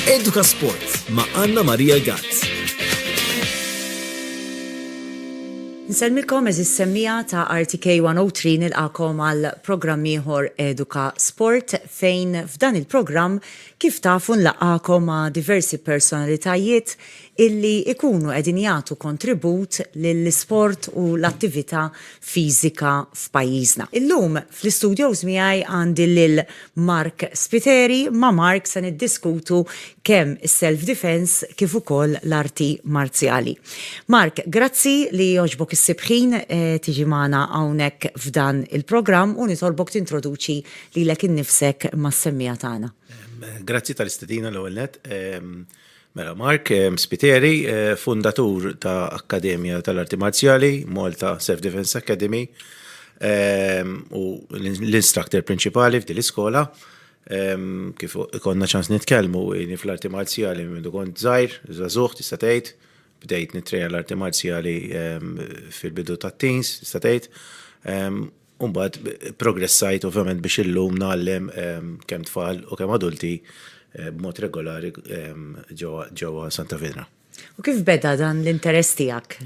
Eduka Sport ma' Anna Maria Gazz. Nsellmilkom eżiż semmiegħa ta' RTK 103 nilqagħkom għal programm ieħor Eduka Sport fejn f'dan il-programm kif tafu nlaqgħakom ma' diversi personalitajiet illi jkunu qegħdin jagħtu kontribut lill-isport u l-attività fiżika f'pajjiżna. Illum fl-istudjows miegħi għandi lil Mark Spiteri, ma' Mark se niddiskutu kemm is-self defense kif ukoll l-arti marzjali. Mark, grazzi li jogħġbok issib ħin tiġi magħna hawnhekk f'dan il-programm u nitolbok tintroduċi lilek innifsek mas-semmiegħa tagħna. Grazzi tal-istedina l-ewwel nett. Mela Mark Spiteri, fundatur ta' Akkademja tal-Arti Marzjali, Malta Self Defense Academy, u l-instructor prinċipali f'din l-iskola. Kif konna ċans nitkellmu jieni fl-arti marzjali minn meta kont żgħir, żagħżugħ tista' tgħid, bdejt nittrejna l-arti marzjali fil-bidu tat-teens tista' tgħid. U mbagħad progressajt ovvjament biex illum nagħallem kemm tfal u kemm adulti b'mod regolari ġewwa Santa Fidra. U kif beda dan l-interess tiegħek?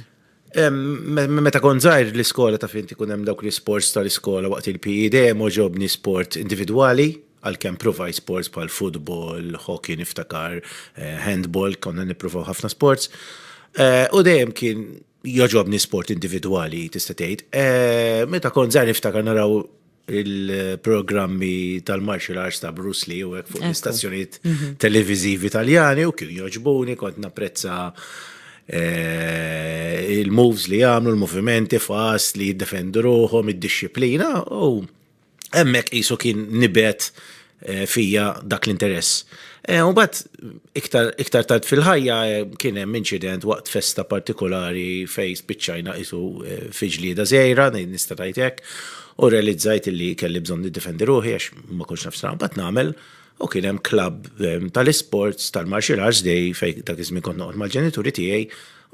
Meta kont żgħir l-iskola ta' fint ikun hemm dawk l-isports tal-iskola waqt il-PE dejjem għoġobni sport individwali għalkemm provajt sports bħal futbol, hockey niftakar, handball, konna nippruvaw ħafna sports. U dejjem kien Jogħġobni sport individwali tista' tgħid. Eh, meta kont żgħar niftakar naraw il-programmi tal-martial arts ta' Bruce Lee u hekk fuq l-istazzjonijiet mhm. televizivi taljani u kien joġbuni kont napprezza eh, il-moves li għamlu, l-movimenti fast li jiddefendu ruħom, id-disciplina u hemmhekk qisu kien nibet eh, fija dak l-interess. Eh, u bat iktar, iktar tard fil-ħajja eh, kien hemm inċident waqt festa partikolari fej spiċċajna qisu eh, fi ġlieda żejra, nista' tajtek, u realizzajt li kelli bżonn niddefendi ruħi għax ma kunx naf strampat nagħmel u kien hemm klabb ehm, tal-isports tal-martial arts dej fej dak iż-żmien kont noqgħod mal-ġenituri tiegħi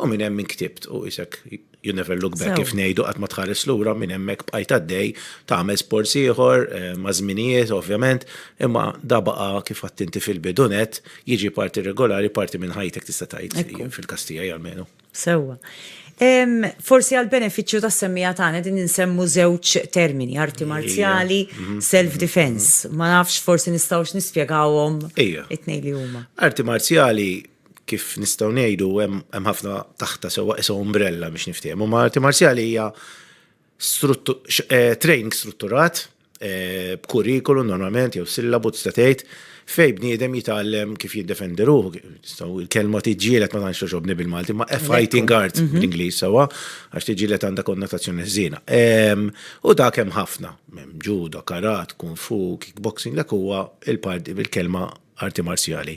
u minn hemm inktibtu u isek you never look back kif ngħidu qatt ma tħares lura minn hemmhekk bqajt għaddej tagħmel sports ieħor eh, ma' żminijiet ovvjament, imma da baqa' kif għattinti fil-bidunet jiġi parti regolari parti minn ħajtek tista' tgħid fil-kastija jgħalmenu. Sewwa. Forsi għal beneficju ta' semmija tagħna din insemmu żewġ termini, arti marzjali, mhm. self-defense. Ma nafx forsi nistgħux nispjegawhom it-tnejn li huma. Arti marzjali kif nistgħu ngħidu hemm ħafna taħta sewwa qisha umbrella biex niftehmu. Ma arti marzjali hija eh, training strutturat eh, b'kurrikulu normalment jew sillabu tista' tgħid fej bniedem jitgħallem kif jiddefendi ruħu. Il-kelma tiġġielet ma tantx toġobni bil-Malti, ma fighting art mhm. bl-Ingliż sewwa għax tiġġielet għandha konnotazzjoni ħżiena. Ehm, u dak hemm ħafna, hemm judo, karat, kung fu, kickboxing, dak huwa il-parti bil-kelma arti marzjali.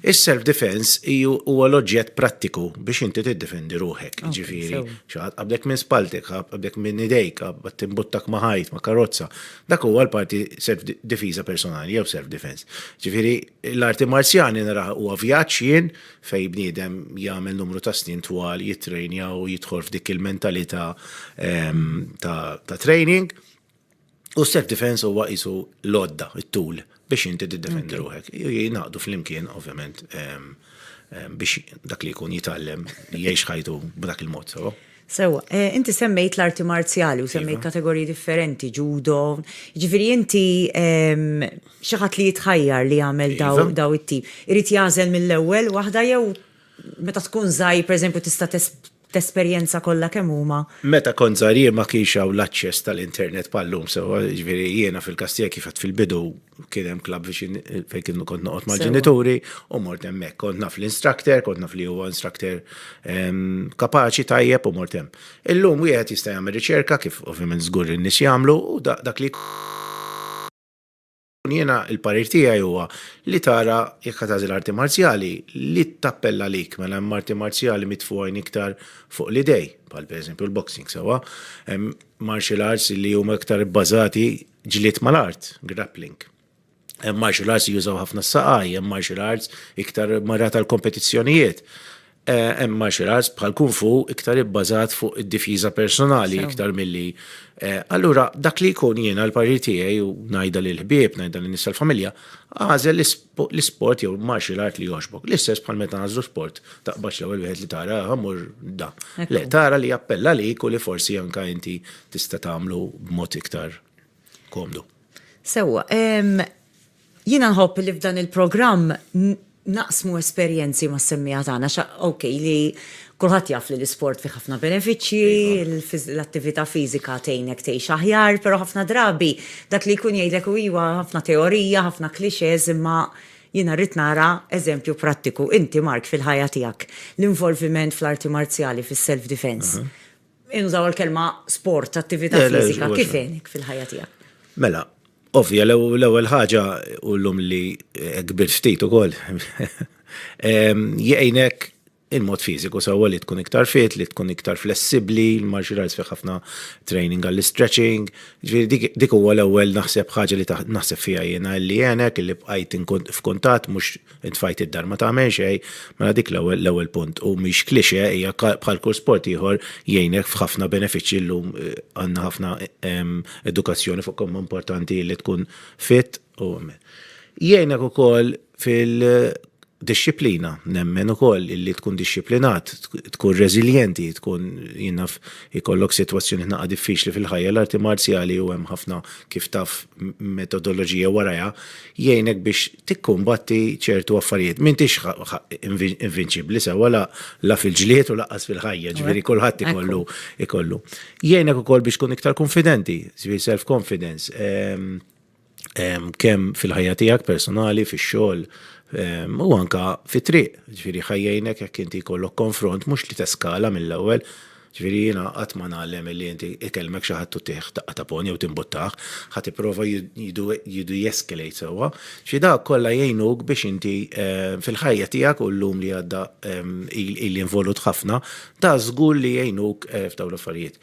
Is-self defense huwa l-oġġett prattiku biex inti tiddefendi ruħek, ġifieri, xaħat qablek minn spaltek, qablek minn idejk, qabad timbuttak ma' ħajt, ma' karozza. Dak huwa l-parti self difiża personali jew self defense. Ġifieri, l-arti marzjali naraha huwa vjaġġ jien fej bniedem jagħmel numru ta' snin twal jittrejnja u jidħol f'dik il-mentalità ehm, ta' training. U self defense huwa qisu l-odda, it-tul biex inti tiddefendi ruħek. Jingħaqdu flimkien, ovvjament, ehm, ehm, biex dak li jkun jitgħallem jgħix ħajtu b'dak il-mod, sewa. Sewa, eh, inti semmejt l-arti marzjali u semmejt iva. kategoriji differenti, ġudo, ġifiri inti ehm, xaħat li jitħajjar li jagħmel daw, iva. daw it-tip. Irid jażel mill-ewwel waħda jew meta tkun żgħir, pereżempju, tista' t'esperjenza kollha kemm huma. Meta kont żgħir jien ma kienx hawn l-aċċess tal-internet bħal llum sewwa, jiġifieri jiena fil-Kastija kif għedt fil-bidu kien hemm klabb viċin fejn kien kont noqgħod mal-ġenituri u mort hemmhekk. Kont naf l-instructor, kont naf li huwa instructor kapaċi tajjeb u mort hemm. Illum wieħed jista' jagħmel riċerka kif ovvjament żgur in-nies jagħmlu u dak li Jiena il-parir tiegħi huwa li tara jekk qed tagħżel arti marzjali li tappella għalik mela hemm arti marzjali mitfugħin iktar fuq l-idej, bħal pereżempju l-boxing sewwa, hemm martial arts li huma iktar ibbażati ġlied mal-art, grappling. Hemm martial arts li jużaw ħafna s-saqaj, hemm martial arts iktar marra tal-kompetizzjonijiet. Hemm martial arts bħal kung fu iktar ibbażat fuq id-difiża personali iktar milli. Allura dak li jkun jiena l-parir tiegħi u ngħidha lil ħbieb, ngħidha lin-nies tal-familja, agħżel l-isport jew martial art li jogħġbok. L-istess bħal meta nagħżlu sport, taqbadx l-ewwel wieħed li tara, aha mmur da. Le, tara li jappella għalik u li forsi anke inti tista' tagħmlu b'mod iktar komdu. Sewwa. Jiena nħobb li f'dan il-programm naqsmu esperjenzi mas-semmiegħa tagħna xa okej li kulħadd jaf li l-isport fih ħafna benefiċċji, l-attività fiżika tgħinek tgħix aħjar, però ħafna drabi dak li jkun jgħidlek hu iva ħafna teorija, ħafna clichés imma jiena rrid nara eżempju prattiku. Inti Mark fil-ħajja tiegħek, l-involviment fl-arti marzjali, fis-self defence, innużaw il-kelma sport, attività fiżika, kif għenek fil-ħajja tiegħek? Mela, Ovvja, l-ewwel ħaġa ullum li eh, kbir ftit ukoll. Jgħinek il-mod fiżiku sewwa li tkun iktar fit, li tkun iktar flessibbli, l-martial arts fih ħafna training għall-stretching. Dik huwa l-ewwel naħseb ħaġa li naħseb fiha jiena li jgħinek li bqajt f'kuntatt mhux Tfajt id-dar ma tagħmel xej, mela dik l-ewwel l-ewwel punt u mhix klixe hija bħal kull sport ieħor jgħinek f'ħafna benefiċċji llum eh, għandna ħafna ehm, edukazzjoni fuq kemm importanti li tkun fit u jgħinek ukoll fil disċiplina, nemmen u koll li tkun disċiplinat, tkun rezilienti, tkun jinnaf ikollok situazzjoni naqa diffiċli fil-ħajja l-arti marzjali u hemm ħafna kif taf metodoloġija waraja, jgħinek biex tikkumbatti ċertu affarijiet. M'intix invinċibbli sewwa la, la fil-ġlied u laqqas fil-ħajja, ġifieri kulħadd ikollu ikollu. Jgħinek ukoll biex tkun iktar kunfidenti, ġifieri self-confidence, ehm, ehm, kemm fil-ħajja tiegħek personali, fix-xogħol, ehm, u anka fit-triq, ġifieri ħajjejnek jekk inti jkollok konfront mhux li teskala mill-ewwel, Ġifieri jiena qatt ma ngħallem illi inti ikellmek xi ħadd u tih daqqa ta' pony jew timbuttah, ħadd ipprova jidu-escalate sewwa. Xi dawk kollha jgħinuk biex inti fil-ħajja tiegħek u llum li għadda ili involut ħafna, ta' żgur li jgħinuk f'dawn l-affarijiet.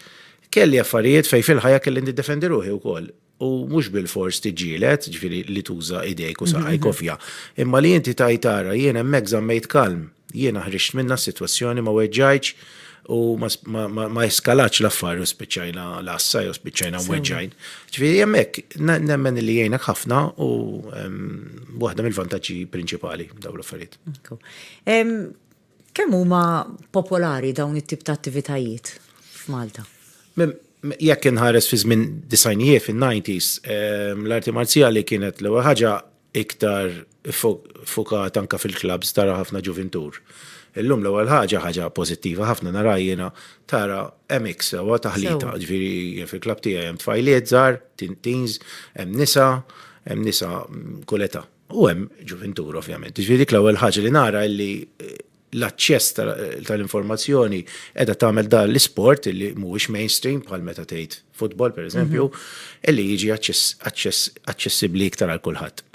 Kelli affarijiet fejn fil-ħajja kelli niddefendi ruħi wkoll. u mhux bilfors tiġġieled, ġifieri li tuża idejk u saqajk ovvja, imma li inti tajt ara jien hemmhekk żammejt kalm, jiena ħriġt minnha s-sitwazzjoni ma weġġajtx u ma eskalatx l-affari u spiċċajna l-għassa jew spiċċajna mweġġajn. Ġifieri hemmhekk nemmen li jgħinek ħafna u waħda mill-vantaġġi prinċipali dawn l-affarijiet. Kemm huma popolari dawn it-tip ta' attivitajiet f'Malta? Jekk inħares fi żmien disajnijiet fin-90s, l-arti marzjali kienet l-ewwel ħaġa iktar fukata anke fil-klabbs tara ħafna ġuvintur. Illum l-ewwel ħaġa, ħaġa pożittiva ħafna naraha jiena, tara MX sewwa taħlita, ġifieri fil-klabb tiegħi hemm tfajliet żgħar, teens, hemm nisa, hemm nisa kull età. U hemm ġuvintur ovvjament. Ġifieri dik l-ewwel ħaġa li nara li l-aċċess tal-informazzjoni qiegħda tagħmel dan l-isport li mhuwiex mainstream bħal meta tgħid futbol pereżempju, mhm. li jiġi aċċessibbli iktar għal kulħadd.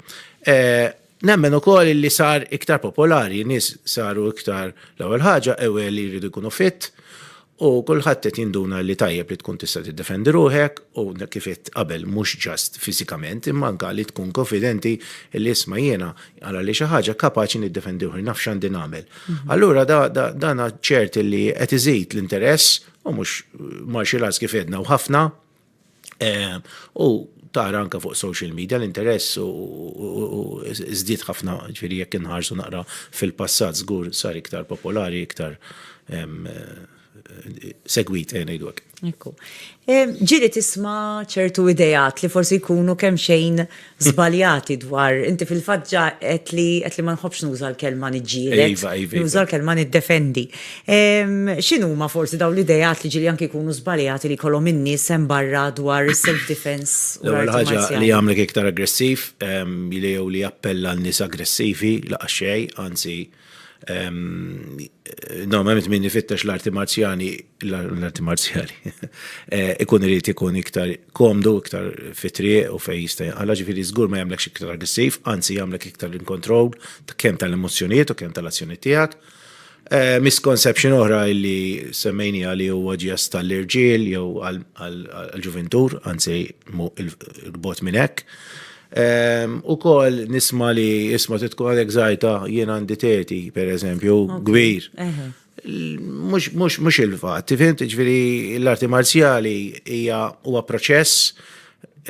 Eh, Nemmen u koll li sar iktar popolari, nis saru iktar l-ewel ħaġa, ewel li jridu jkunu fit, U kulħadd qed jinduna li tajjeb li tkun tista' tiddefendi ruħek u kif għedt qabel mhux just fiżikament imma anke li tkun konfidenti li isma' jiena ara li xi ħaġa kapaċi niddefendi ruħi, naf x'għandi nagħmel. Allura dan ċert li qed iżid l-interess u mhux martial arts kif għedna u ħafna, U tara anka fuq social media l-interess u żdied ħafna ġifieri jekk inħarsu naqra fil-passat żgur sar iktar popolari, iktar segwit ejja ngħidu hekk. Ekku. Ġieli tisma' ċertu ideat li forsi jkunu kemm xejn żbaljati dwar, inti fil-fatt ġa qed li qed li ma nħobbx nuża l-kelma niġġieled. Iva, iva, iva. Nuża l-kelma niddefendi. Ehm, X'inhuma forsi dawn l-idejat li ġieli anke jkunu żbaljati li jkollhom in-nies hemm barra dwar is-self-defense u L-ewwel l-arti ħaġa li marzjali? jagħmlek iktar aggressiv, ehm, li jew li jappella n-nies aggressivi laqas xejn, anzi Normalment min ifittex l-arti marzjani, l-arti marzjali, eh, ikun irid ikun iktar komdu, iktar fitri u fej jista' għala ġifiri żgur ma jagħmlek iktar aggressiv, anzi jagħmlek iktar in control kemm tal-emozzjonijiet u kemm tal-azzjoni tiegħek. Eh, misconception oħra li semmejni għali huwa ġest tal-irġiel jew għal-ġuventur, anzi il-bot minn hekk. Ukoll nisma li isma trid tkun għalhekk żgħajta jien għandi teti, pereżempju, kbir. Mhux il-fatt, tifhimt, ġifieri l-arti marzjali hija huwa proċess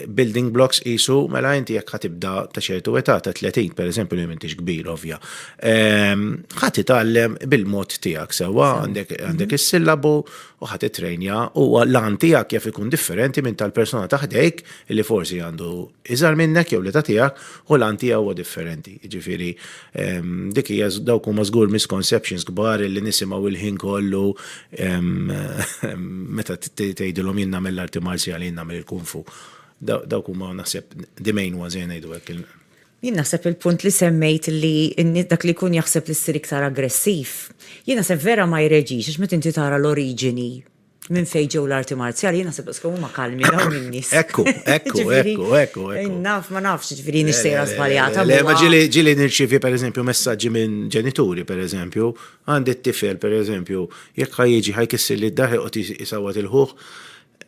building blocks qisu mela inti jekk ħatibda ta' ċertu età ta' 30 pereżempju li m'intix kbir ovvja. Ħadd itgħallem bil-mod tiegħek sewwa għandek is-sillabu u ħa tittrejnja u l-għan tiegħek jaf ikun differenti minn tal-persuna ta' ħdejk li forsi għandu iżgħar minnek jew li ta' tiegħek u l-għan tiegħu huwa differenti. Jiġifieri ehm, dik hija dawk huma żgur misconceptions kbar li nisimgħu il-ħin kollu ehm, meta tgħidilhom jien nagħmel l-arti marzjali jien nagħmel il-kunfu. Dawk huma naħseb the main ones jien ngħidu hekk Jien naħseb il-punt li semmejt li dak li jkun jaħseb li ssir iktar aggressiv, jien naħseb vera ma jreġix għax meta inti tara l-oriġini minn fejn ġew l-arti marzjali, jien naħseb daqskemm huma kalmi dawn in-nies. Ekku, ekku, ekku, ekku. Naf, ma nafx ġifieri nixtejra żbaljata. Le, ma ġili ġili nirċievi pereżempju messaġġi minn ġenituri pereżempju, għandi t-tifel pereżempju, jekk ħa jiġi ħa jkissirli d-dar ħa joqgħod isawwat il-ħuh,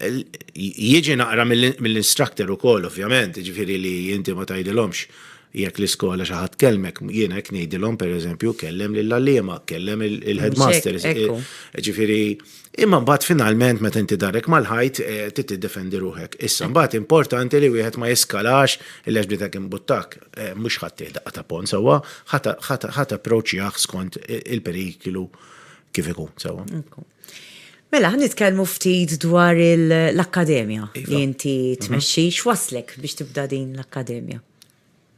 Jiġi naqra mill-instructor ukoll ovvjament, jiġifieri li inti ma tgħidilhomx jekk l-iskola xi ħadd kellmek, jiena hekk ngħidilhom pereżempju kellem lill-għalliema, kellem il-headmaster. Jiġifieri imma mbagħad finalment meta inti darek mal-ħajt eh, trid tiddefendi ruħek. Issa mbagħad importanti li wieħed ma jiskalax il-lex bdietek imbuttak. Eh, mhux ħadd daqqa ta' pon sewwa, ħadd approċċjah skont il-periklu kif ikun sewwa. Mela, ħa nitkellmu ftit dwar l-akkademja iva. li inti mhm. tmexxi, x'waslek biex tibda din l-akkademja?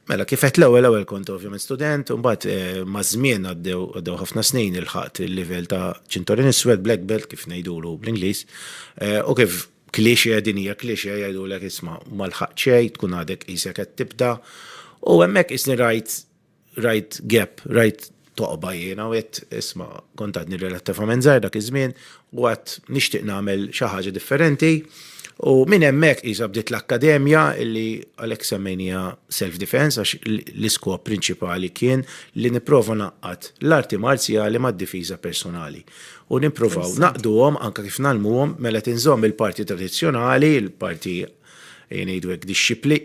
Mela, kifet l-ewwel ewwel kont ovvjament student, u mbagħad eh, ma' żmien għaddew ħafna snin il-ħaqt il-livell ta' ċintorin iswed black belt kif ngħidulu bl-Ingliż, eh, u kif kliexja din hija kliexja jgħidulek isma' ma l-ħaqt xejn, tkun għadek isek qed tibda, u hemmhekk isni rajt rajt gap, rajt toqba jiena u għedt isma' kont għadni relattivament żgħir dak iż-żmien u għad nixtieq nagħmel xi ħaġa differenti u minn hemmhekk qisha bdiet l-akkademja illi għalhekk semmejnija self defense għax l-iskop prinċipali kien li nipprova ngħaqqad l-arti marzjali mad-difiża personali u nippruvaw naqduhom anke kif nagħlmuhom mela tinżomm il-parti tradizzjonali, il-parti ngħidu hekk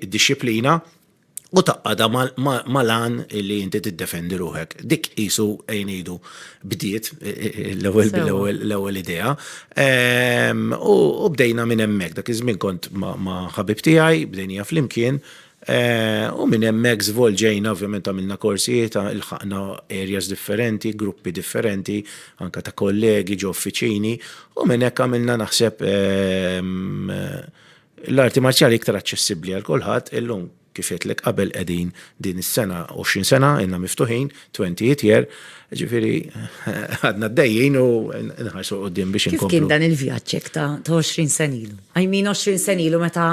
dixxiplina, u taqqada mal-għan li inti tiddefendi ruħek. Dik jisu għajnidu bdiet e, e, e, l-ewel idea. Ehm, u bdejna minn emmek, dak iż-żmien kont ma' ħabib tiegħi, bdejnija flimkien. U minn emmek zvolġejna, ovvjament għamilna korsijiet, il-ħakna areas differenti, gruppi differenti, anka ta' kollegi ġo uffiċini, u minn hekk għamilna naħseb ehm, L-arti marzjali iktar aċċessibbli għal kulħadd illum kif għedtlek qabel qegħdin din is-sena 20 sena inna miftuħin 20 jitjer, ġifieri għadna d-dejjin u nħarsu qudiem biex inkomplu. Kif kien dan il-vjaġġ hekk ta' 20 sena ilu? I mean 20 sena ilu meta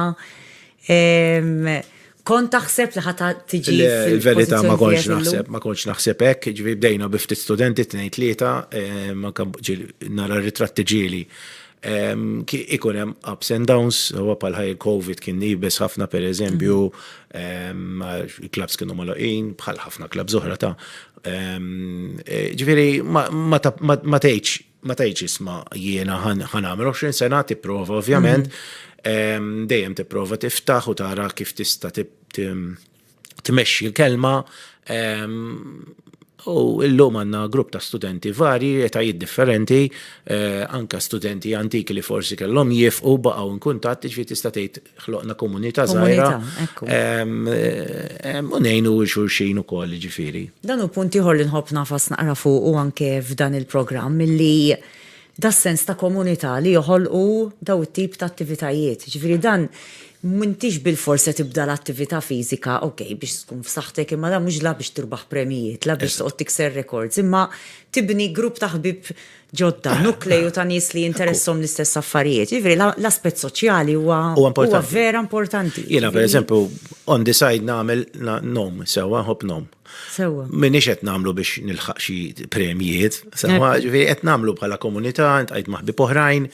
Kont taħseb li ħata tiġi. Il-verità ma kontx naħseb, ma kontx naħseb hekk, ġifi bdejna bi ftit studenti tnejn tlieta, eh, ma nara ritratti ġieli. Ehm, ikun hemm ups and downs, huwa bħal ħaj covid kien nibes ħafna per eżempju, ehm, il-klabs kienu maloqin, bħal ħafna klabs oħra ta' ehm, eh, ġifieri ma tgħidx ma tajċ isma jiena ħanamel 20 sena tipprova ovvjament mhm. dejjem tipprova tiftaħ u tara kif tista' tmexxi l-kelma u illum għanna grupp ta' studenti vari, etajiet differenti, eh, anka studenti antiki li forsi kellhom jifqu baqgħu in kuntatt ġifieri tista' tgħid ħloqna komunità żgħira. U ngħinu xulxin ukoll ġifieri. Dan hu punt ieħor li nħobb nafas naqra fuq u anke f'dan il-programm li das-sens ta' komunità li joħolqu daw it-tip ta' attivitajiet. Ġifieri dan m'intix bilfors se tibda l-attività fiżika, ok, biex tkun f'saħħtek imma dan mhux la biex tirbaħ premjijiet, la biex toqgħod tikser rekords, imma tibni grupp ta' ħbieb ġodda, nukleju ta' nies li jinteressom l-istess affarijiet. Ġifieri l-aspett soċjali huwa huwa vera importanti. Jiena pereżempju on the side nagħmel nom sewwa nħobb nom. Sewwa. Minix qed nagħmlu biex nilħaq xi premjiet, sewwa ġifieri qed nagħmlu bħala komunità, ntqajt ma' ħbieb oħrajn,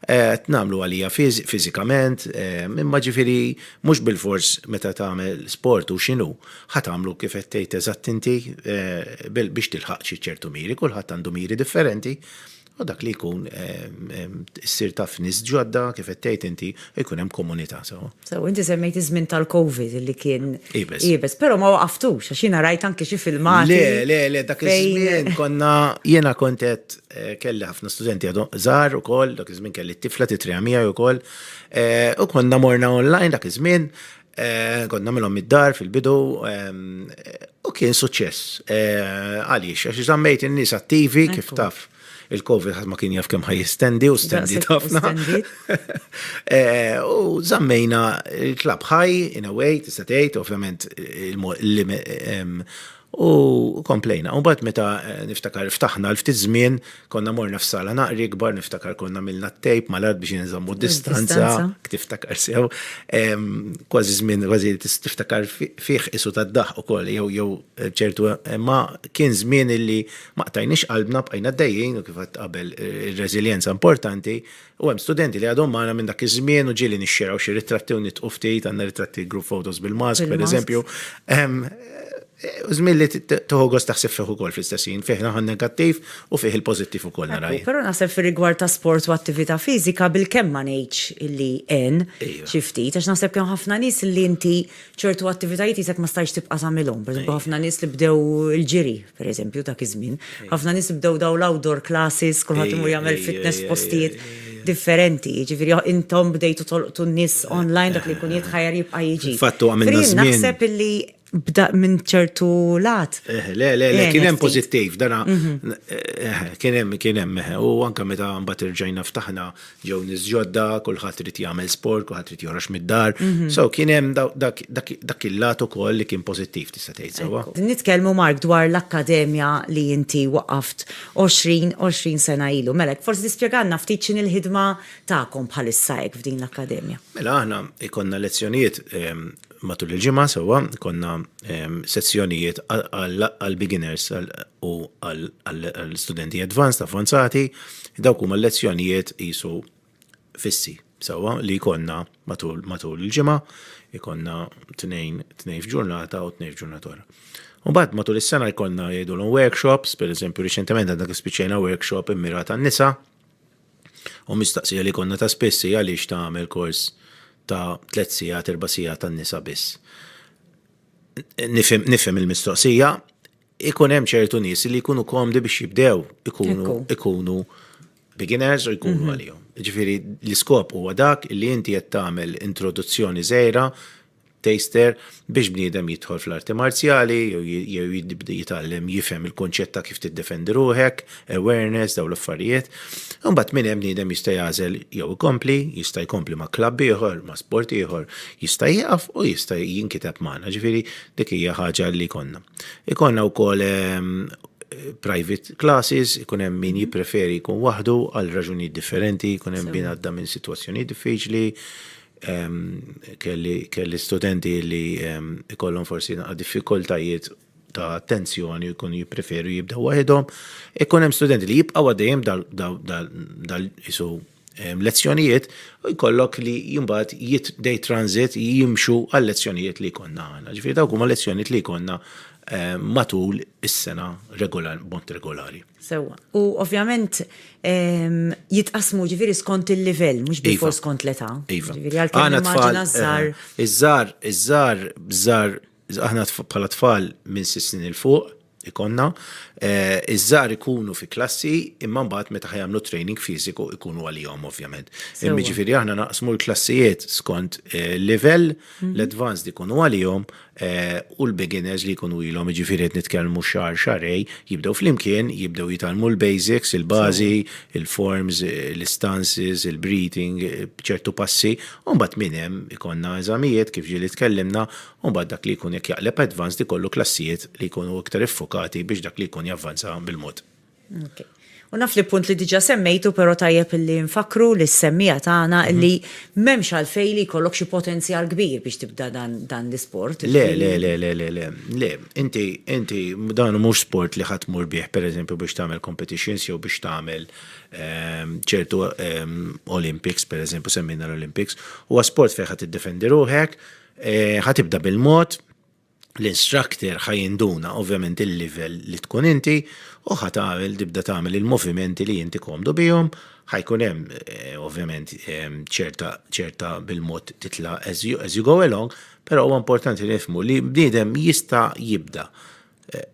qed nagħmlu għalija fiżikament, imma ġifieri mhux bilfors meta tagħmel sport u x'inhu. Ħa tagħmlu kif qed tgħid eżatt inti biex tilħaq xi ċertu miri, kulħadd għandu miri differenti, u dak li jkun issir taf nies ġodda kif qed tgħid inti jkun hemm komunità sew. Sew, inti semmejt iż-żmien tal-COVID li kien iebes, però ma waqaftux għax jiena rajt anki xi filmati. Le, le, le, dak iż-żmien konna jiena kont qed kelli ħafna studenti għadhom żgħar ukoll, dak iż-żmien kelli t-tifla titriha miegħi wkoll, u konna morna online dak iż-żmien, Eh, kont namilhom mid-dar fil-bidu ehm, u kien suċċess. Eh, għaliex, għax żammejt in-nies attivi kif taf il-Covid ħadd ma kien jaf kemm ħajjistendi u stendi ħafna. Eh, u żammejna il-klab ħaj in a way tista' tgħid, ovvjament ehm, U komplejna. U bat meta eh, niftakar ftaħna l-ftit żmien, konna morna f'sala naqri kbar, niftakar konna milna t-tejp mal-art biex jinżammu distanza, tiftakar sew, kważi żmien, kważi tiftakar fih isu tad-daħ u koll, jew jew eh, ċertu, eh, ma kien żmien illi ma qtajnix qalbna bqajna d-dajjin u kif qabel ir-reżiljenza importanti, U hemm studenti li għadhom magħna minn dak iż-żmien u ġieli nixxeraw xi ritratti u nidqu ftit, għandna ritratti group photos bil-mask, pereżempju. Żmien li tieħu gost taħseb fih ukoll fl-istess ħin, fih naħa negattiv u fih il-pożittiv ukoll nara jien. Però naħseb fir-rigward ta' sport u attività fiżika bilkemm ma ngħidx li għen xi ftit għax naħseb li hemm ħafna nies li inti ċertu attivitajiet jisek ma stajx tibqa' tagħmilhom. Pereżempju ħafna nies li bdew il-ġiri, pereżempju dak iż-żmien. Ħafna nies li bdew dawn l-outdoor classes, kulħadd imur jagħmel fitness f'postijiet differenti. Jiġifieri intom bdejtu tolqtu n-nies online dak li jkun jitħajjar jibqa' jiġi. Fatt huwa minn żmien. Naħseb illi bda minn ċertu lat. Eh, le, le, le, eh, kien hemm pożittiv, dana mhm. eh, kien hemm kien hemm u anke meta mbagħad irġajna ftaħna Ġew nies ġodda, kulħadd irid jagħmel sport, kulħadd irid joħroġ mid-dar. Mhm. So kien hemm dak il-lat ukoll li kien pożittiv tista' tgħid sewwa. Nitkellmu Mark dwar l-akkademja li inti waqaft 20 20 sena ilu. Mela, forsi tispjegalna ftit x'inhi l-ħidma tagħkom bħalissa hekk f'din l-akkademja. Mela aħna jkollna lezzjonijiet ehm, matul il-ġimgħa sewwa konna ehm, sezzjonijiet għall-beginners u għall-studenti advanced, avvanzati, dawk huma lezzjonijiet jisu fissi sewwa li konna matul il-ġimgħa, ikonna tnejn tnejn f'ġurnata u tnejn f'ġurnata oħra. U bad matul is-sena jkollna jgħidulhom workshops, pereżempju riċentement għandna spiċċejna workshop immirat għan-nisa, U mistaqsija li jkollna ta' spiss hi għaliex tagħmel kors ta' tliet sigħat, erba' sigħat tan-nisa biss. Nifhem il-mistoqsija, ikun hemm ċertu nies li jkunu komdi biex jibdew ikunu ikunu beginners u jkunu mhm. għalihom. Ġifieri l-iskop huwa dak li inti qed tagħmel introduzzjoni żejra taster, biex bniedem jidħol fl-arti marzjali jew jibda jitgħallem jifhem il-kunċett ta' kif tiddefendi ruħek, awareness, dawn l-affarijiet. Imbagħad minn hemm bniedem jista' jagħżel jew ikompli, jista' jkompli ma' klabb ieħor, ma' sport ieħor, jista' jieqaf u jista' jinkiteb magħna, ġifieri dik hija ħaġa li konna. Ikonna wkoll ehm, private classes, ikun hemm min jippreferi jkun waħdu għal raġunijiet differenti, jkun hemm bin għadda minn sitwazzjoni diffiċli, Kelli studenti li jkollhom forsi naqa' diffikultajiet ta' attenzjoni u jkunu jippreferu jibdew waħedhom. Ikun hemm studenti li jibqgħu għaddejjem dal isu lezzjonijiet u jkollok li jimbat day transit jimxu għal lezzjonijiet li jkollna għana. Ġifieri dawk huma lezzjonijiet li jkollna matul is-sena b'mod regolari. Sewwa. U ovvjament ehm, jitqasmu ġifieri skont il-livell, mhux iva. bil skont l-età. Iva. Ġifieri għalkemm immaġina eh, żgħar. Iż-żgħar, iż-żgħar, żgħar, aħna bħala tfal minn sissin il fuq ikonna, eh, iż-żgħar ikunu fi klassi imma mbagħad meta ħajamlu training fiżiku ikunu għalihom ovvjament. Imma ġifieri aħna naqsmu l-klassijiet skont eh, livell, mhm. l-advanced ikunu għalihom, u l-beginners li jkunu ilhom jiġifieri qed nitkellmu xahar xarej, jibdew flimkien, jibdew jitalmu l-basics, il-bażi, il-forms, l-istances, il-breathing, ċertu passi, u mbagħad minn hemm ikollna eżamijiet kif ġieli tkellimna, u mbagħad dak li jkun jekk jaqleb advanced ikollu klassijiet li jkunu iktar iffukati biex dak li jkun javvanza bil-mod. U naf li punt li diġa semmejtu, pero tajjeb li nfakru li s-semmija tagħna mhm. li m'hemmx għalfej li jkollok xi potenzjal kbir biex tibda dan l-isport. Le, le, le, le, le, le, le, inti, inti, dan mhux sport li ħadd mur bih, per eżempju, biex tagħmel competitions jew biex tagħmel ehm, ċertu ehm, Olympics, per eżempju, semmina l-Olympics, huwa sport fejn ħadd iddefendi ruħek, eh, ħatibda bil-mod, l-instructor ħa jinduna ovvjament il-level li tkun inti u ħa tagħmel tibda tagħmel il-movimenti li inti komdu bihom, ħajkun hemm eh, ovvjament ehm, ċerta ċerta bil-mod titla' as you, as you go along, però huwa importanti li nifmu li bniedem jista' jibda eh,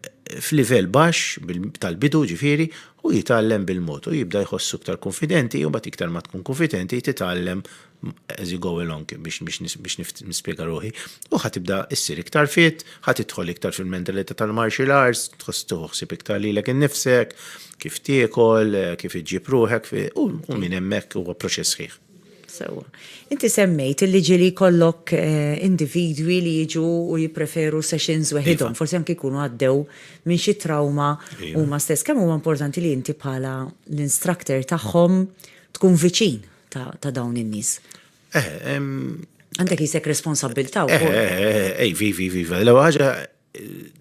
f'livell baxx tal-bidu ġifieri u jitgħallem bil-mod u jibda jħossu iktar konfidenti u bat iktar ma tkun konfidenti titgħallem as you go along biex nispjega ruħi, u ħa tibda issir iktar fit, ħa tidħol iktar fil-mentalità tal-martial arts, tħoss tuħsib iktar lilek innifsek, kif tiekol, kif iġġib ruħek, u minn hemmhekk huwa proċess sħiħ. Sewwa. Inti semmejt li ġieli jkollok eh, individwi li jiġu u jippreferu sessions iva. weħidhom, forsi anke jkunu għaddew minn xi trauma iva. huma stess. Kemm huwa importanti li inti bħala l-instructor tagħhom tkun viċin ta' dawn in-nies. Eh, Għandek jisek responsabbilta' u. Ej, vivi, vivi, l ħaġa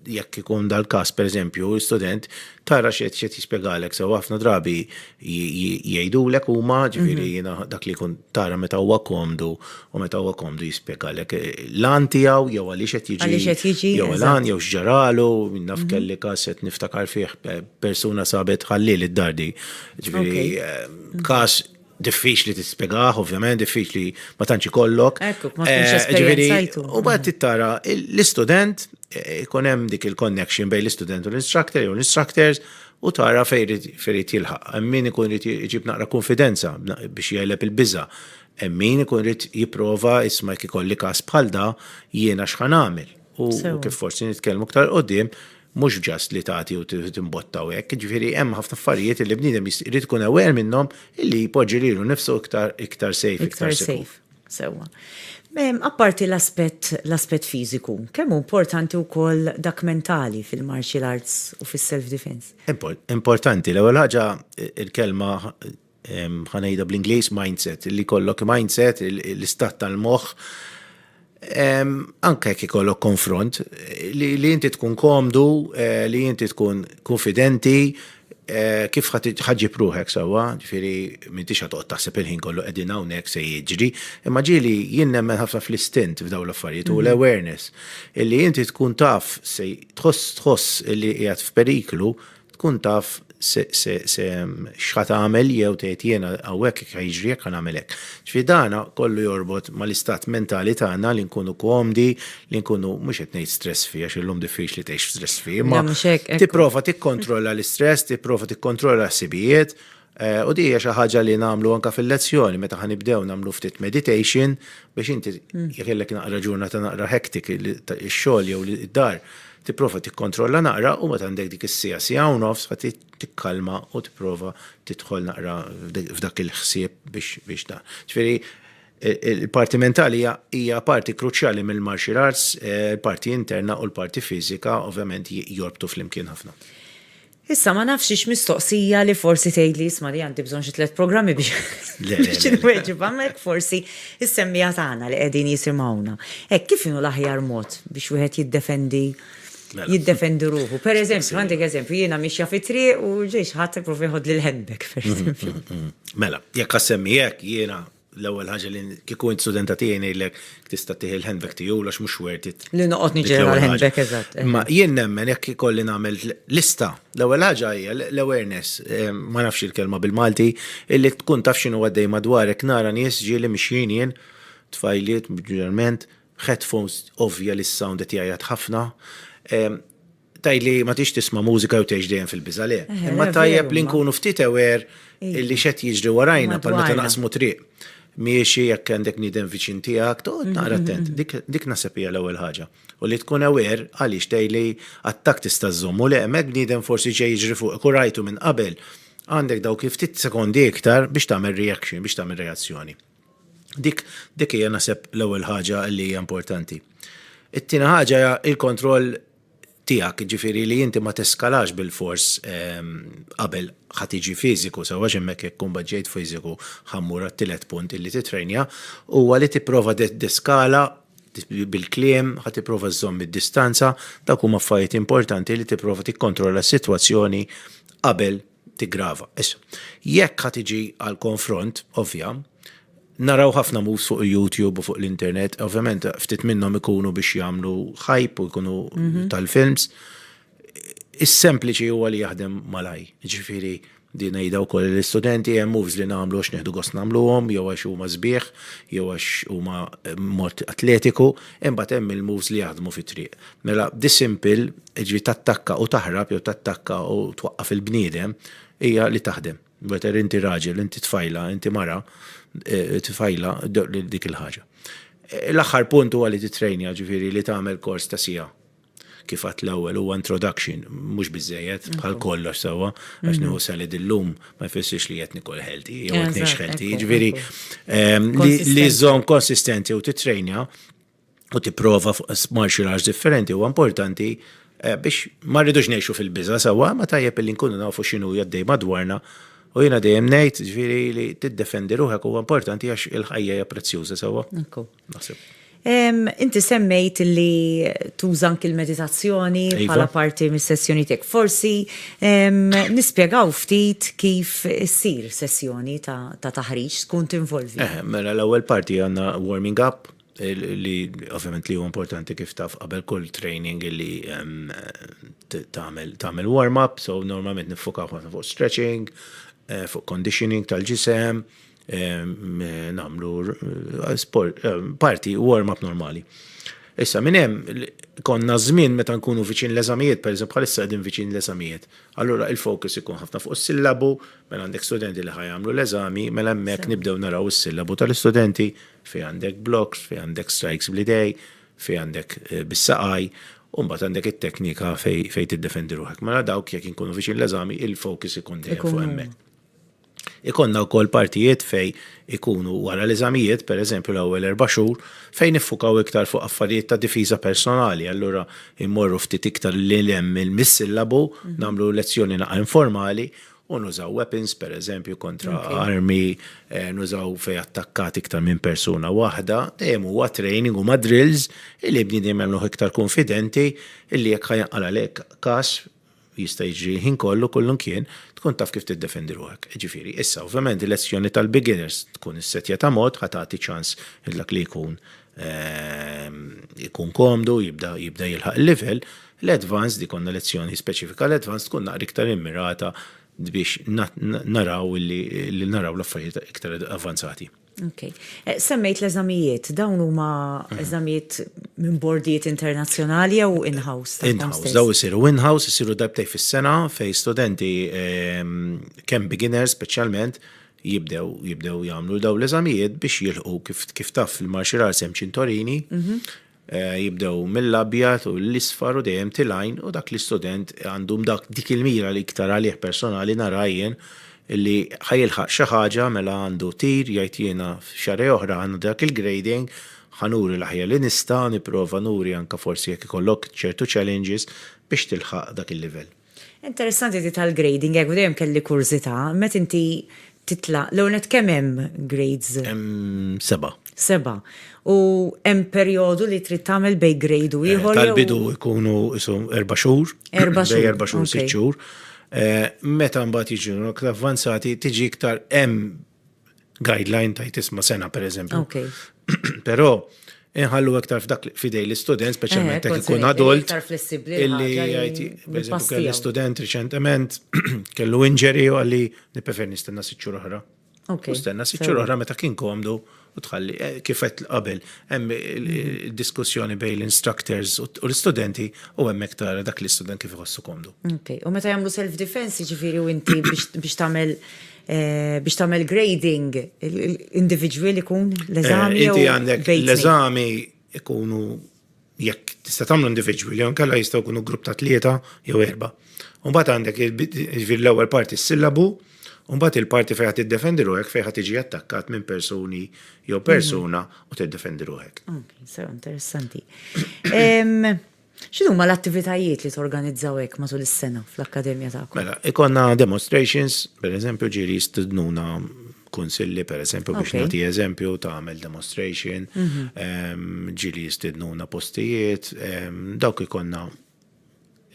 jekk ikun dal-kas, per eżempju, student, tara xiet xiet jispiegalek, sew ħafna drabi jgħidulek u ma ġifiri mhm. jina dak li kun tara meta huwa komdu u meta huwa komdu jispiegalek eh, lan tijaw jew għalli xiet jiġi jew lan jew xġaralu naf mhm. kelli kas qed niftakar fih eh, persuna sabet ħalli li d-dardi ġifiri eh, każ diffiċli tispjegaħ, ovvjament, diffiċli ma tantx ikollok. Ekku, ma tkunx eh, esperjenzajtu. U bad tittara l-istudent, eh, ikun hemm dik il-connection bejn l-istudent u l-instructor jew l-instructors u tara fejrid jilħaq. Min ikun irid iġib naqra konfidenza biex jgħeleb il-biża. Min ikun irid jipprova isma' jekk ikolli każ bħal da jiena x'ħan għamil. U kif forsi nitkellmu ktar qudiem, mhux ġast li tagħti u timbotta u hekk, ġifieri hemm ħafna affarijiet li bniedem jrid ikun aware minnhom illi jpoġġi lilu nifsu iktar iktar safe, iktar safe. Sewwa. Apparti l-aspett l-aspett fiżiku, kemm hu importanti wkoll dak mentali fil-martial arts u fis-self defense? Importanti, l-ewwel ħaġa il-kelma ħa ngħidha bl-Ingliż mindset, li kollok mindset, l-istat tal-moħħ, anke jekk ikollok konfront, li, li inti tkun komdu, eh, li inti tkun konfidenti, eh, kif ħagġi pruħek sawa, ġifiri, minn tixa toqt taħseb il-ħin kollu edin hawnhekk se jiġri, imma ġili jien nemmen ħafna fl-istint f'daw l-affarijiet u mhm. l-awareness, illi inti tkun taf se tħoss tħoss illi qiegħed f'periklu, Tkun taf se se se x'ħa tagħmel jew tgħid jiena hawnhekk jekk ħa jiġri hekk ħa nagħmel hekk. Ġifieri dana kollu jorbot mal-istat mentali tagħna li nkunu komdi, li nkunu mhux qed ngħid stress free għax illum diffiċli tgħix stress free, imma tipprova tikkontrolla l-istress, tipprova tikkontrolla l-ħsibijiet, U di hija xi ħaġa li nagħmlu anke fil-lezzjoni meta ħa nibdew nagħmlu ftit meditation biex inti jekk illek naqra ġurnata naqra hektik ix-xogħol jew id-dar tipprova tikkontrolla naqra u meta għandek dik is-sija sija u nofs ħa tikkalma u tipprova tidħol naqra f'dak il-ħsieb biex biex da. Ġifieri il-parti mentali hija parti kruċjali mill-martial arts, eh, parti interna u l-parti fiżika ovvjament jorbtu flimkien ħafna. Issa ma nafx hix mistoqsija li forsi tgħidli isma' li għandi bżonn xi tliet programmi biex biex inweġibha, imma hekk forsi is-semmiegħa tagħna li qegħdin jisimgħuna. Hekk kif inhu l-aħjar mod biex wieħed jiddefendi Mela. jiddefendi ruħu. Per eżempju, għandek eżempju, jiena mixja fi triq u ġej xi ħadd ipprova jħodli l-handbag, per eżempju. Mela, jekk għassemmi hekk jiena L-ewwel ħaġa li kieku int studenta tiegħi ngħidlek tista' tieħi l-handbag tiegħu għax mhux worth it. Li noqgħod niġġiel mal-handbag eżatt. Eh. Ma jien nemmen jekk ikolli nagħmel lista. L-ewwel ħaġa hija l-awareness, eh, ma nafx il-kelma bil-Malti, illi tkun taf x'inhu għaddej madwarek nara nies ġieli mixjin jien, tfajliet, ġerment, headphones ovvja li s-sound qed jgħajjat ħafna. Eh, Tgħid li ma tix tisma' mużika jew tgħix dejjem fil-biża' le. Imma tajjeb li nkunu ftit aware li x'qed jiġri warajna bħal meta naqsmu triq. Miexi jekk għandek bniedem viċin tiegħek, toqgħod naqra attent. Dik naħseb hija l-ewwel ħaġa. U li tkun aware għaliex tgħid li attakk tista' żżommu le, hemmhekk bniedem forsi ġej jiġri fuqek u rajtu minn qabel, għandek dawk il-ftit sekondi iktar biex tagħmel reaction, biex tagħmel reazzjoni. Dik dik hija naħseb l-ewwel ħaġa li hija importanti. It-tieni ħaġa hija il-kontroll tiegħek, ġifieri li inti ma teskalax bil-fors ehm, qabel ħa tiġi fiżiku, sewwa x'hemmhekk jekk kumbat ġejt fiżiku ħammur għat-tielet punt illi titrejnja, huwa li tipprova deskala bil-kliem, ħa tipprova żżomm id-distanza, dak huma affarijiet importanti li tipprova tikkontrolla s-sitwazzjoni qabel tiggrava. Issa, jekk ħa tiġi għal konfront, ovvja, naraw ħafna moves fuq il-YouTube u fuq l-internet, ovvjament ftit minnhom ikunu biex jagħmlu hype u jkunu mhm. tal-films. Is-sempliċi huwa li jaħdem malaj, ġifieri di ngħidha wkoll l-istudenti hemm moves li nagħmlu għax neħdu gost nagħmluhom jew għax huma sbieħ jew għax huma eh, mod atletiku, imbagħad hemm il-moves li jaħdmu fit-triq. Mela, dissimple, ġifieri tattakka u taħrab jew tattakka u twaqqaf il-bniedem, hija li taħdem. Whether inti raġel, inti tfajla, inti mara, eh, tfajla dik il-ħaġa. Eh, l-aħħar punt huwa li titrejnja ġifieri li tagħmel kors ta' sija kif għat l-ewwel huwa introduction mhux biżejjed bħal kollox sewwa għax nieħu mm-hmm. salad illum ma jfissirx li qed nikol healthy jew qed ngħix healthy. Jiġifieri ehm, li żżomm konsistenti u titrejnja u tipprova fuq martial arts differenti huwa importanti eh, biex ma rridux ngħixu fil-biża sewwa, ma tajjeb li nkunu nafu x'inhu jaddej madwarna u jiena dejjem ngħid ġifieri li tiddefendi ruħek huwa importanti għax il-ħajja hija prezzjuża sewwa. Inti semmejt li tuża anki l-meditazzjoni iva. bħala parti mis-sessjoni tiegħek. Forsi nispjegaw ftit kif issir sessjoni ta' taħriġ tkun tinvolvi. Eh, mela l-ewwel parti għandna warming up, li ovvjament li huwa importanti kif taf qabel kull training li ehm, tagħmel warm-up, so normalment nifukaw ħafna fuq stretching, eh, fuq conditioning tal-ġisem, ehm, eh, namlu eh, sport, parti warm-up normali. Issa minn hemm konna żmien meta nkunu viċin l-eżamijiet, per eżempju bħalissa qegħdin viċin l-eżamijiet. Allura il-fokus ikun ħafna fuq is-sillabu, mela għandek studenti li ħajamlu l-eżami, mela hemmhekk nibdew naraw is-sillabu tal-istudenti, Fih għandek blocks, fih għandek strikes bl-idej, fih għandek bis-saqaj, u mbagħad għandek it-teknika fejn tiddefendi ruħek. Mela dawk jekk inkunu viċin l-eżami, il-focus ikun dejjem fuq hemmhekk. Ikonna wkoll partijiet fejn ikunu wara l-eżamijiet, pereżempju l-ewwel erba' xhur, fejn niffukaw iktar fuq affarijiet ta' difiża personali, allura immorru ftit iktar lil hemm mill-sillabu, nagħmlu lezzjoni naqra informali, u nużaw weapons per eżempju kontra okay. armi, eh, nużaw fej attakkat iktar minn persuna waħda, dejjem huwa training u drills illi bniedem jagħmluh iktar konfidenti illi jekk ħajanqal għalek kas jista' jiġri ħin kollu kullum kien tkun taf kif tiddefendi ruħek. Ġifieri, issa ovvjament il-lezzjoni tal-beginners tkun is-setja ta' mod ħatati ċans il-dak li jkun Ehm, ikun komdu, jibda, jibda jilħaq il-level, l-advanced, ikonna lezzjoni speċifika l-advanced tkun naqri iktar immirata biex naraw li naraw l-affarijiet iktar avanzati. Ok. Eh, semmejt l-eżamijiet, dawn huma mhm. eżamijiet minn bordijiet internazzjonali jew in-house? In-house, daw isiru in-house, isiru darbtej fis-sena fej studenti ehm, kemm beginners speċjalment jibdew jibdew jagħmlu daw l-eżamijiet biex jilħu kif kif taf fil-martial arts hemm ċintorini, mhm. eh, jibdew mill-abjad u l-isfar u dejjem tilajn u dak l-istudent għandhom dak dik il-mira li iktar għalih personali narajjen li ħajilħaq xi ħaġa mela għandu tir jgħid jiena xarej oħra għandu dak il-grading ħanuri l-aħjar li nista' nipprova nuri anka forsi jekk ikollok ċertu challenges biex tilħaq dak il-livell. Interessanti di tal-grading hekk, dejjem kelli kurżità, meta inti titla', l-ewwel nett kemm hemm grades? Hemm seba'. Seba'. U hemm perjodu li trid tagħmel bejn grade u ieħor? Tal-bidu jkunu qishom erba' xhur. Erba' xhur. Bejn erba' xhur u sitt xhur. Meta mbagħad jiġu l-aktar avvanzati tiġi iktar hemm guideline tajt isma sena per eżempju. Okay. Pero, inħallu iktar f'dak fidej l-istudent, speċjalment eh, jekk ikun adult. Iktar flessibli. Illi jgħid, per eżempju, kelli student riċentement, kellu injury u għalli niprefer nistenna siċċur oħra. Okay. Nistenna siċċur oħra meta kien komdu. Okay u tħalli, eh, kifet qabel, hemm diskussjoni bej l-instructors u l-studenti u hemm tara dak l-istudent kif iħossu komdu. Ok, u meta jagħmlu self-defense ġifiri u inti biex tagħmel eh, biex tagħmel grading individual ikun l-eżami. Eh, inti għandek l-eżami ikunu Jekk tista' tagħmlu individwi li nkella jistgħu jkunu grupp ta' tlieta jew erba'. U mbagħad għandek jiġifieri l-ewwel parti s-sillabu, u mbagħad il-parti fejn ħadd iddefendi ruħek fejn ħadd tiġi attakkat minn persuni jew persuna u tiddefendi ruħek. Okej, sew interessanti. X'inhuma l-attivitajiet li torganizzaw hekk matul is-sena fl-akkademja tagħkom? Mela, ikollna demonstrations, pereżempju ġieli jistednuna kunsilli, per eżempju, biex nagħti eżempju ta' għamel demonstration, mhm. ehm, ġili jistidnuna postijiet, ehm, dawk ikonna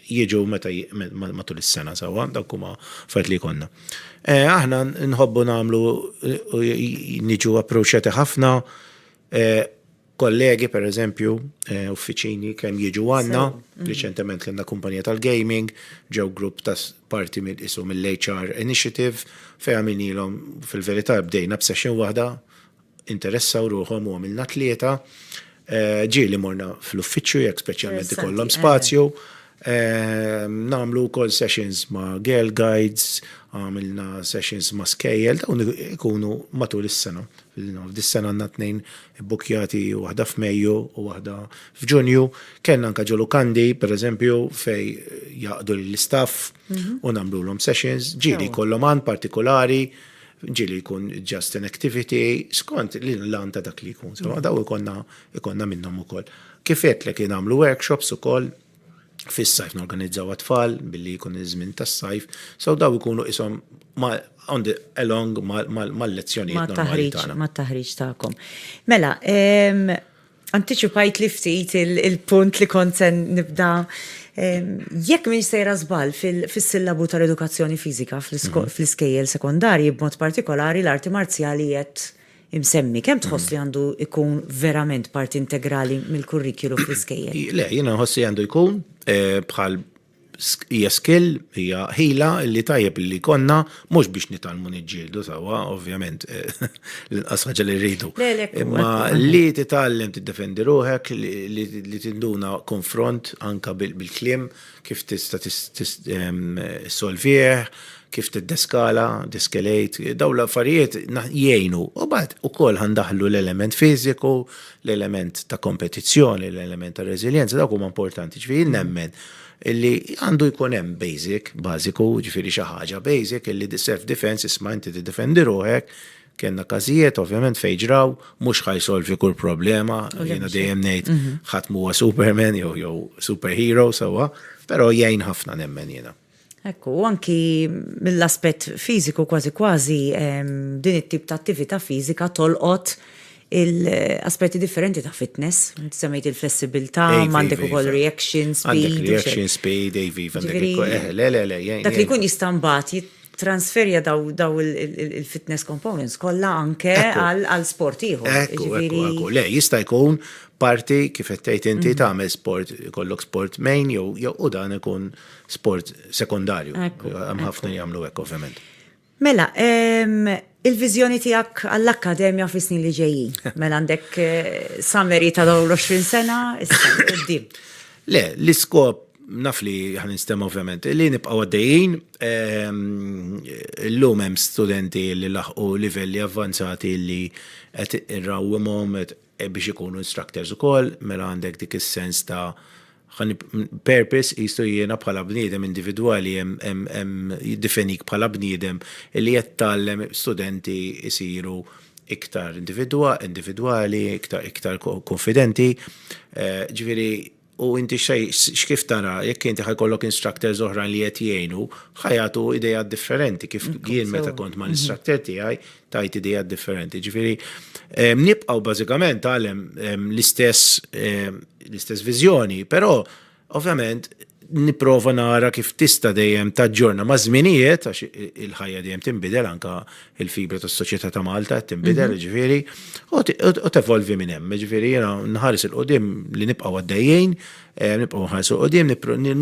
jieġu meta matul is-sena sawa, dawk huma fajt li jkollna. Eh, aħna nħobbu nagħmlu eh, niġu approċċjati ħafna eh, kollegi per eżempju, eh, uffiċini kemm jiġu għanna, mm. riċentement kellna kumpanija tal-gaming, ġew grupp ta' parti mill isu mill-HR Initiative, fej għamilnilhom fil-verità bdejna b'session waħda, interessaw ruħom u għamilna tlieta, eh, ġieli morna fl-uffiċċju jekk speċjalment ikollhom eh. spazju, Nagħmlu wkoll sessions ma' girl guides, għamilna sessions ma' skejjel, dawn ikunu matul is-sena. F'dis-sena għandna tnejn bukjati waħda f'Mejju u waħda f'Ġunju. Kellna anke ġo Lukandi, pereżempju, fej jaqdu lill-istaff mhm. u nagħmlulhom sessions, ġieli jkollhom għan partikolari, ġieli jkun just an activity, skont l-lan ta' dak li jkun. Daw ikonna Ikollna minnhom ukoll. Kif għedtlek li nagħmlu workshops ukoll fis-sajf norganizzaw għat-tfal billi jkun iż-żmien tas-sajf, so dawn ikunu qishom on the along mal-lezzjonijiet normali tagħna. Mat-taħriġ tagħkom. Mela, antiċipajtli ftit il-punt li kont se nibda. Jekk m'iniex sejra żball fis-sillabu tal-edukazzjoni fiżika fl-iskejjel sekondarji b'mod partikolari l-arti marzjali qed imsemmi, kemm tħoss li għandu jkun verament parti integrali mill-kurrikulu fl-iskejjel? Le, jiena nħoss li għandu jkun bħal hija skill, hija ħila li tajjeb li konna mhux biex nitgħallmu niġġieldu sewwa, ovvjament, l-inqas ħaġa li rridu. Imma li titgħallem tiddefendi ruħek, li tinduna konfront anke bil-kliem, kif tista' tissolvih, kif tiddeskala, diskelejt, daw l-affarijiet jgħinu. U bad ukoll ħandaħlu l-element fiżiku, l-element ta' kompetizzjoni, l-element ta' reżiljenza, dawk huma importanti. Ġifieri nemmen illi għandu jkun hemm basic, bażiku, ġifieri xi ħaġa basic illi self-defense isma' inti tiddefendi ruħek, Kenna każijiet ovvjament fejn ġraw mhux ħaj solvi kull problema, jiena dejjem ngħid mhm. ħadd huwa Superman jew jew superhero sewwa, però jgħin ħafna nemmen jiena. Ekku, anki mill-aspett fiżiku kważi kważi din it-tip ta' attività fiżika tolqot il-aspetti differenti ta' fitness, semmejt il-flessibilità, mandek u koll reaction speed. Reaction speed, AV, eh, le, le, le, Dak li kun jistambat, transferja daw il-fitness components kollha anke għal sport ieħor. Ekku, ekku, ekku. Le, jista' jkun parti kif qed tgħid inti mhm. tagħmel sport, kollok sport main jew jew u dan ikun sport sekondarju. Hemm ħafna jagħmlu hekk ovvjament. Mela, Il-viżjoni tiegħek għall-Akkademja fis-snin li ġejjin? Mela għandek summary ta' dawn l-20 sena issa quddiem. Le, l-iskop naf li ħan nistema ovvjament, li nibqaw għaddejjin, l-lum hemm studenti li laħqu livelli avvanzati li qed irrawwimhom, E biex ikunu instructors ukoll, mela għandek dik is-sens ta' purpose jistu jiena bħala bniedem individwali jiddifenik bħala bniedem li qed tgħallem studenti jsiru iktar individwali, iktar konfidenti. Ġifieri, U inti x'kif tara, jekk inti ħa jkollok instructors oħrajn li qed jgħinu, ħa jagħtu ideat differenti kif jien meta kont mal-instructor tiegħi tajt ideat differenti. Ġifieri nibqgħu bażikament għalem l-istess l-istess viżjoni, però ovvjament nipprova nara kif tista' dejjem taġġorna maż-żminijiet għax il-ħajja dejjem tinbidel anke il-fibra tas soċjetà ta' Malta qed tinbidel, mhm. ġifieri, u tevolvi minn hemm, ġifieri jiena nħares il qudiem li nibqgħu għaddejjin, eh, nibqgħu nħares il qudiem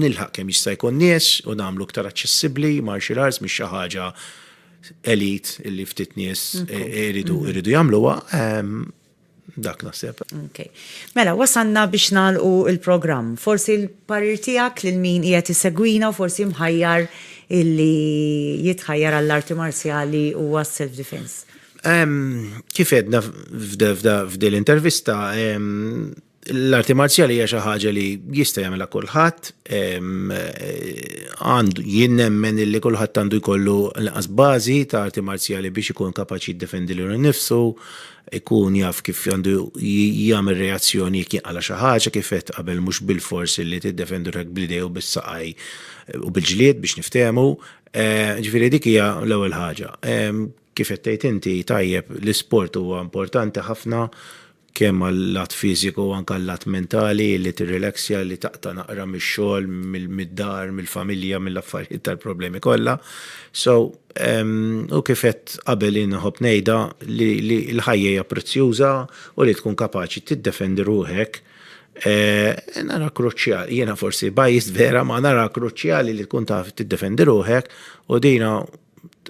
nilħaq kemm jista' jkun nies u nagħmlu aktar aċċessibbli martial arts mhix xi ħaġa elit li ftit nies eh, iridu mhm. iridu jagħmluha. Ehm, Dak naħseb. Ok. Mela, wasalna biex nagħlqu l-programm. Forsi l-parir tiegħek lil min qiegħed isegwina u forsi mħajjar illi jitħajjar għall-arti marzjali u għas-self defense. Kif għedna f'dil intervista, l-arti marzjali hija xi ħaġa li jista' jagħmilha kulħadd, għandu jien nemmen li kulħadd għandu jkollu l-qas bażi ta' arti marzjali biex ikun kapaċi jiddefendi lil nnifsu, ikun jaf kif għandu jagħmel reazzjoni jekk jinqala xi ħaġa kif qed qabel mhux bil-fors li tiddefendu rek bl-idej u bis-saqaj u bil-ġlied biex niftehmu. Eh, ġifieri dik hija l-ewwel ħaġa. Kif qed tgħid inti tajjeb l-isport huwa importanti ħafna kemm għal-lat fiżiku u anke għal-lat mentali, li tirrilaxja, li taqta' naqra mix-xogħol, mid-dar, mill-familja, mill-affarijiet tal-problemi kollha. So, u kif għedt qabel jien nħobb ngħidha li l-ħajja hija prezzjuża u li tkun kapaċi tiddefendi ruħek nara kruċjali, jiena forsi biased vera, ma nara kruċjali li tkun taf tiddefendi ruħek u dina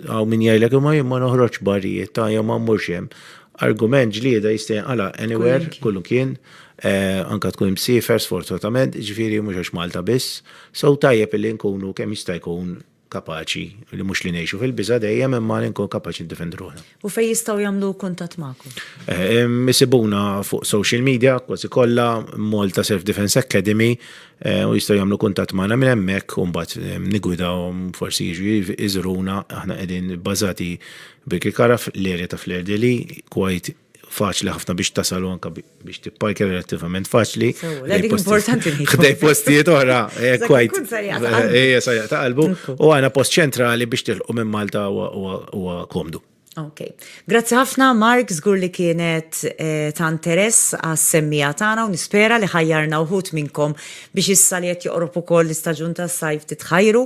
Hawn min jgħidlek imma jien ma noħroġx barijiet ta' jew ma mmurx hemm. Argument ġlieda jista' jinqala' anywhere, kull kien, eh, anka tkun imsiefer sfortunatament, ġifieri mhux għax Malta biss. So tajjeb illi nkunu kemm jista' jkun kapaċi li mhux li ngħixu fil-biża' dejjem imma li nkunu kapaċi ndefendu ruħna. U fejn jistgħu jagħmlu kuntatt magħkom? Ehm, isibuna fuq social media, kważi kollha, Malta Self Defense Academy, eh, u jistgħu jagħmlu kuntatt magħna minn hemmhekk u mbagħad ehm, nigwidawhom forsi jiġu iżruna aħna qegħdin bażati Birki Karaf l-erja ta' Flerdi li kwajt faċli ħafna biex tasalu anka biex tipparkja relattivament faċli. Ħdej postijiet oħra, eh, kwajt. Ejja, sajja ta' qalbu. U għana post ċentrali biex tilqu minn Malta u komdu. Ok. Grazzi ħafna, Mark, zgur li kienet eh, ta' interess għas semmija tagħna u nispera li ħajjarna uħut minnkom biex issa li qed joqrob ukoll l-istaġun tas-sajf titħajru